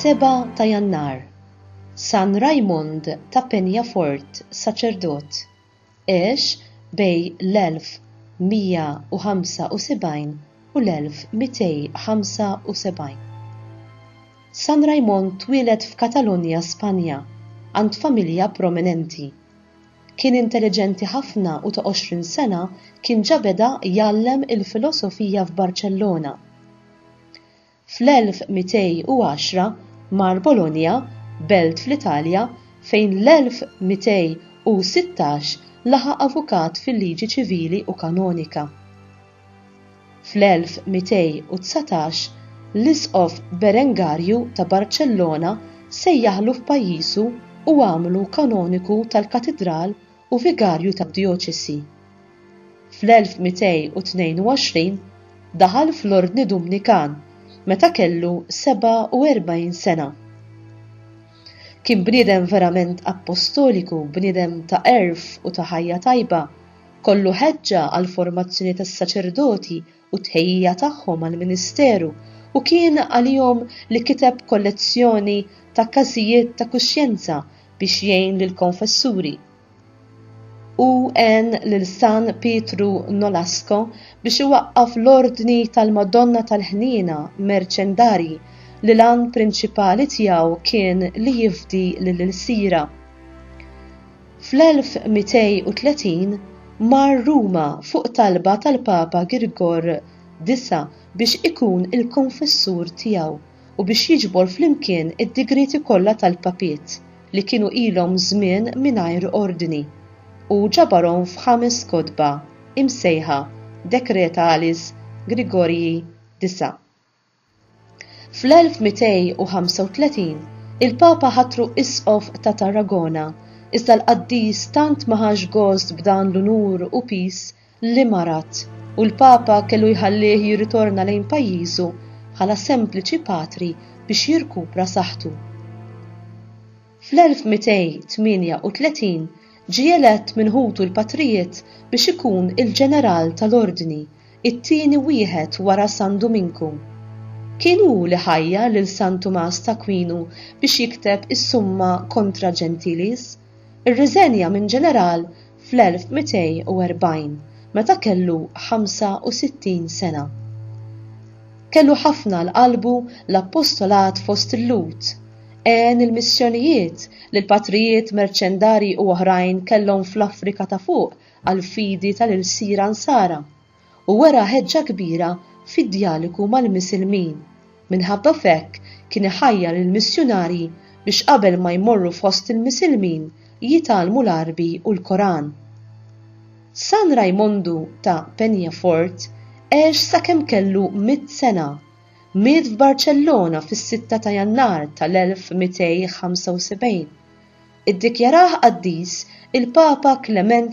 Seba' ta' Jannar, San Rajmond ta' Penjafort, saċerdot, għex bejn l-1175 u l-1275. San Raimon twieled f'Katalunja, Spanja, għand familja prominenti. Kien intelliġenti ħafna u ta' għoxrin sena kien ġa beda jgħallem il-filosofija f'Barċellona. Fl-1210 mar Bologna, belt fl-Italja, fejn l-1216 laħaq avukat fil-liġi ċivili u kanonika. Fl-1219 l-Isqof Berengarju ta' Barċellona sejjaħlu f'pajjiżu u għamlu kanoniku tal-Katidral u vigarju tad-djoċesi. Fl-1222 daħal fl-Ordni Dumnikan meta kellu 47 sena. Kien bniedem verament appostoliku, bniedem ta' għerf u ta' ħajja tajba, kollu ħeġġa għall-formazzjoni tas-saċerdoti u t-tħejjija tagħhom għall-ministeru u kien għalihom li kiteb kollezzjoni ta' każijiet ta' kuxjenza biex jgħin lill-konfessuri. Hu għen lil San Pietru Nolasco biex iwaqqaf l-Ordni tal-Madonna tal-Ħniena Merċendarji li l-għan prinċipali tiegħu kien li jifdi lill-ilsiera. Fl-1230 mar Ruma fuq talba tal-Papa Girgor Disa' biex ikun il-konfessur tiegħu u biex jiġbor flimkien id-digrieti kollha tal-papiet li kienu ilhom żmien mingħajr ordni. Hu ġabarhom f'ħames kotba imsejħa Decretalis Grigoriji Disa'. Fl-1235, il-Papa ħatru Isqof ta' Tarragona, iżda l-qaddis tant ma ħax gost b'dan l-unur u piż li marat, u l-Papa kellu jħallih jirritorna lejn pajjiżu bħala sempliċi patri biex jirkupra saħħtu. Fl-1238 ġie elett minn ħutu l-patrijiet biex ikun il-ġeneral tal-ordni, it-tieni wieħed wara San Duminku. Kien hu li ħajjar lil San Tumas t'Akwinu biex jikteb is-Summa Contra Gentiles, ir-riżenja minn ġeneral fl-1240 meta kellu 65 sena. Kellu ħafna għal qalbu l-appostolat fost il-Lhud, għen il-missjonijiet li l-patrijiet merċendarji u oħrajn kellhom fl-Afrika ta' Fuq għall-fidi tal-ilsiera Nsara, u wera ħeġġa kbira fid-djaliku mal-Misilmin, minħabba f'hekk kien iħajjar il-missjunarji biex qabel ma jmorru fost il-Misilmin jitgħallmu l-Għarbi u l-Koran. San Rajmondu ta' Penyafort għex sakemm kellu mitt sena. Miet f'Barċellona fis-sitta ta' Jannar tal-1275. Iddikjarah qaddis il-Papa Klement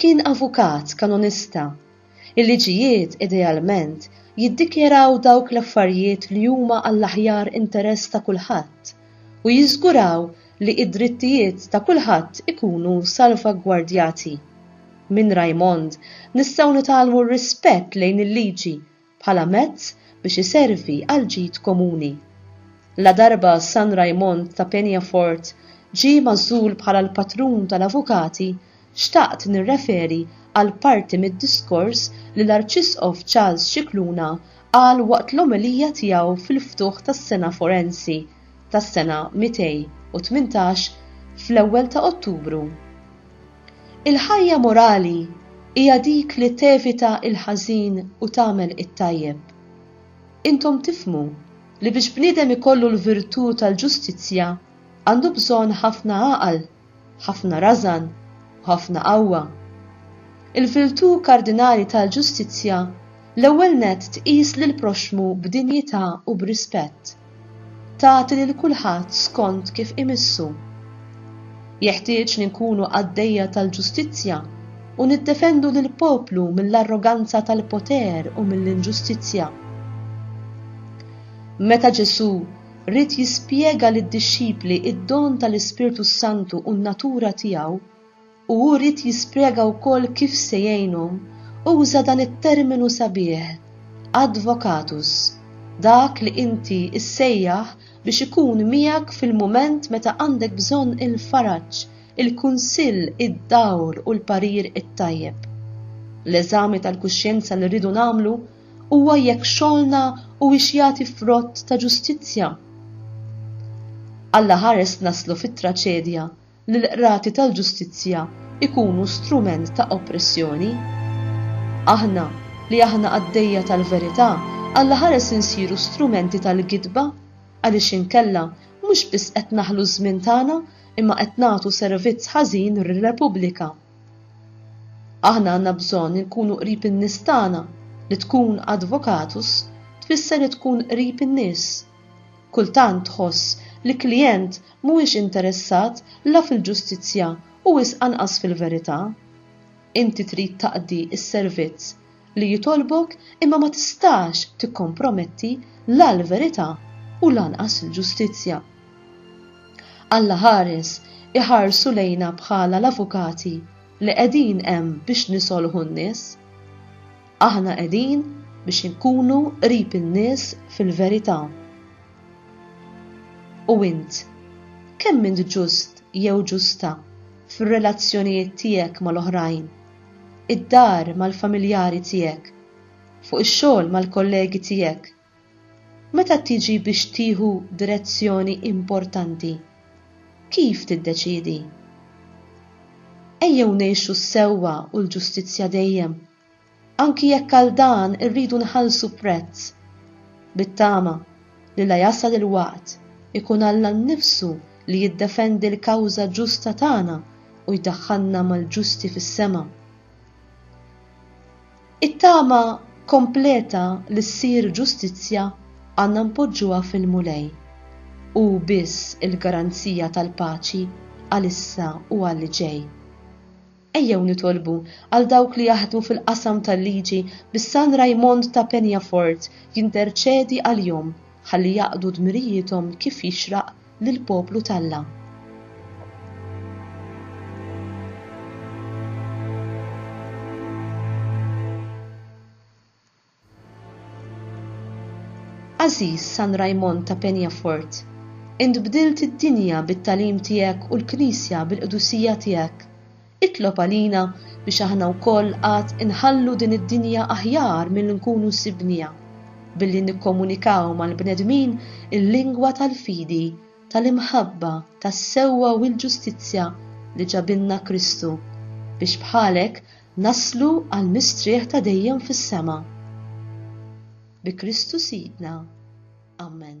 Kien avukat kanonista. Il-liġijiet idealment jiddikjaraw dawk l-affarijiet li huma għall-aħjar interess ta' kulħadd u jiżguraw li id-drittijiet ta' kulħadd ikunu salvagwardjati. Minn Raymond nistgħu nitgħallmu r-rispett lejn il-liġi bħala mezz biex iservi għall-ġid komuni. Ladarba San Raymond ta' Peñafort ġie magħżul bħala l-patrun tal-avukati, xtaqt nirreferi għal parti mid-diskors li l-Arċisqof Charles Scicluna qal waqt l-omelija tiegħu fil-ftuħ tas-sena forensi tas-sena 218 fl-ewwel ta' Ottubru Il-ħajja morali hija dik li tevita l-ħażin u tagħmel it-tajjeb. Intom tifhmu li biex bniedem ikollu l-virtù tal-ġustizzja għandu bżonn ħafna għaqal, ħafna rażan u ħafna qawwa. Il-virtù kardinali tal-ġustizzja l-ewwel nett tqis lill-proxxmu b'dinjità u b'rispett. tagħti lil kulħadd skont kif imissu. Jeħtieġ li nkunu qaddejja tal-ġustizzja u niddefendu lill-poplu mill-arroganza tal-poter u mill-inġustizzja. Meta Ġesù ried jispjega lid-dixxipli d-don tal-Ispirtu s-Santu u n-natura tiegħu, u hu ried jispjega wkoll kif se jgħinhom, uża dan it-terminu sabiħ, advocatus, dak li inti ssejjaħ biex ikun miegħek fil-mument meta għandek bżonn il-faraġ, il-kunsill, id-dawl u l-parir it-tajjeb. L-eżami tal-kuxjenza li rridu nagħmlu huwa jekk xogħolna huwiex jagħti frott ta' ġustizzja. Allaħares naslu fit-traċedja li l-qrati tal-ġustizzja jkunu strument ta' oppressjoni. Aħna, li aħna qaddejja tal-verità, alla ħares insiru strumenti tal-gidba, għaliex inkella mhux biss qed naħlu ż-żmien tagħna imma qed nagħtu servizz ħażin lir-Repubblika. Aħna għandna bżonn inkunu qrib in-nies tagħna, li tkun advocatus tfisser li tkun qrib in-nies. Kultant tħoss li klijent Mhuwiex interessat la fil-ġustizzja u wisq anqas fil-verità. Inti trid taqdi s-servizz li jitolbok imma ma tistax tikkomprometti la l-verità u lanqas il-ġustizzja. Alla ħares iħarsu lejna bħala l-avukati li qegħdin hemm biex nisolħu n-nies. Aħna qegħdin biex inkunu qrib in-nies fil-verità. U int, kemm int ġust jew ġusta fir-relazzjonijiet tiegħek mal-oħrajn, id-dar mal-familjari tiegħek, fuq ix-xogħol mal-kollegi tiegħek? Meta tiġi biex tieħu direzzjoni importanti, kif tiddeċiedi? Ejjew ngħixu s-sewwa u l-ġustizzja dejjem! Anki jekk għal dan irridu nħallsu prezz, bit-tama li la jasal il-waqt ikun Alla nnifsu li jiddefendi l-kawża ġusta tagħna u jdaħħalna mal-ġusti fis-sema. It-tama kompleta li ssir ġustizzja għandna npoġġuha fil-Mulej. Hu biss il-garanzija tal-paċi għalissa u għall-ġej. Ejjew nitolbu għal dawk li jaħdmu fil-qasam tal-liġi biex San Raymond ta' Peñafort jinterċedi għalihom ħalli jaqdu dmirijiethom kif jixraq lill-poplu t'Alla. Għażiż San Rajmond ta' Peñafort, int bdilt id-dinja bit-tagħlim tiegħek u l-Knisja bil-qdusija tiegħek. Itlob għalina biex aħna wkoll għad inħallu din id-dinja aħjar milli nkunu sibniha, billi nikkomunikaw mal-bnedmin il-lingwa tal-fidi, tal-imħabba, tas-sewwa u l-ġustizzja li ġabilna Kristu, biex bħalek Naslu għal mistrieħ ta' dejjem fis-sema. Bi Kristu Sidna. Amen.